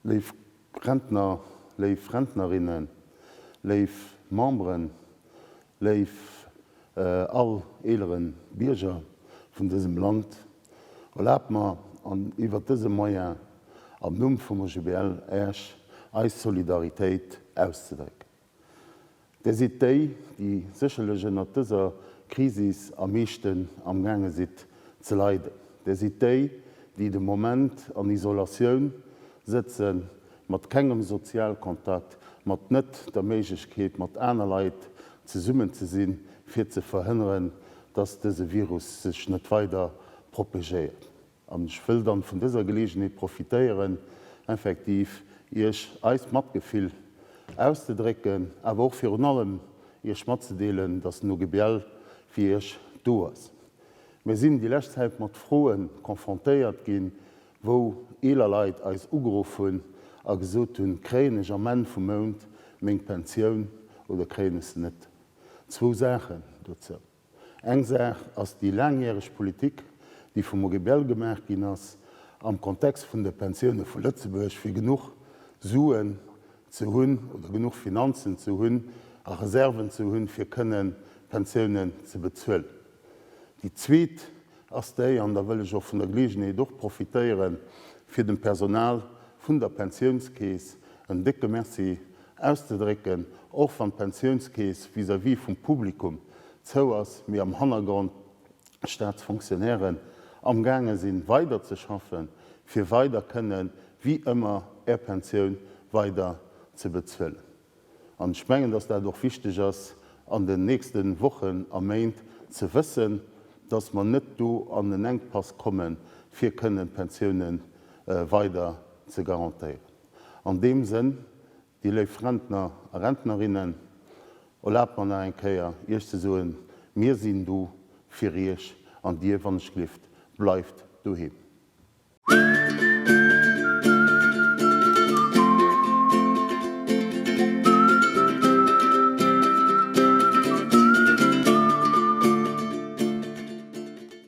Léif Rentner, léif Rentnerinnen, léif Memberen, léif all eelere Bierger vun dësem Land, erlaabt mer an iwwert dëse Moyen am Numm vum OGBL Esch eis Solidaritéit auszedrécken. Där sidd déi, déi sécherlech ënnert dëser Krisis am meeschten amgaange sidd ze leiden. Där sidd déi, déi de Moment an Isolatioun sëtzen, mat kengem Sozialkontakt, mat net der Méiglechkeet, mat aner Leit zesummen ze sinn, fir ze verhënneren, dass dëse Virus sech net weider propegéiert. An ech wëll dann vun dëser Geleegenheet profitéieren, effektiv Iech eist Matgefill auszedrécken, awer och virun allem Iech matzedeelen, dass den OGBL fir Iech do ass. Mir sinn déi lescht Zäit mat Froe confrontéiert ginn, wou eeler Leit eis ugeruff hunn a gesot hunn, kréien ech am Enn vum Mount meng Pensioun oder kréien ech se net? Zwou Saachen dozou. Eng Saach ass déi laangjäreg Politik, déi vum OGBL gemaach ginn ass am Kontext vun de Pensioune vu Lëtzebuerg, fir genuch Suen ze hunn oder genuch Finanzen ze hunn a Reserven ze hunn, fir kënnen d'Pensiounen ze bezuelen. Déi zweet ass déi, an da wëll ech och vun der Geleegenheet och profitéieren, fir dem Personal vun der Pensiounskeess en décke Merci auszedrécken, och wann d'Pensiounskeess vis-à-vis vum Publikum zou ass, mee am Hannergrond d'Staatsfonctionnairen am gaange sinn weider ze schaffen, fir weider kënnen wéi ëmmer är Pensioun weider ze bezuelen. An ech mengen, dass dat och wichteg ass an den nächste Wochen a Méint ze wëssen, dass mer net do an en Enkpass kommen, fir kënnen d'Pensiounen weider ze garantéieren. An deem Sënn, dir léif Rentner a Rentnerinnen, erlaabt mer nach eng Kéier, Iech ze soen, Mir sinn do fir Iech an dir, wann ech glift, bleift doheem.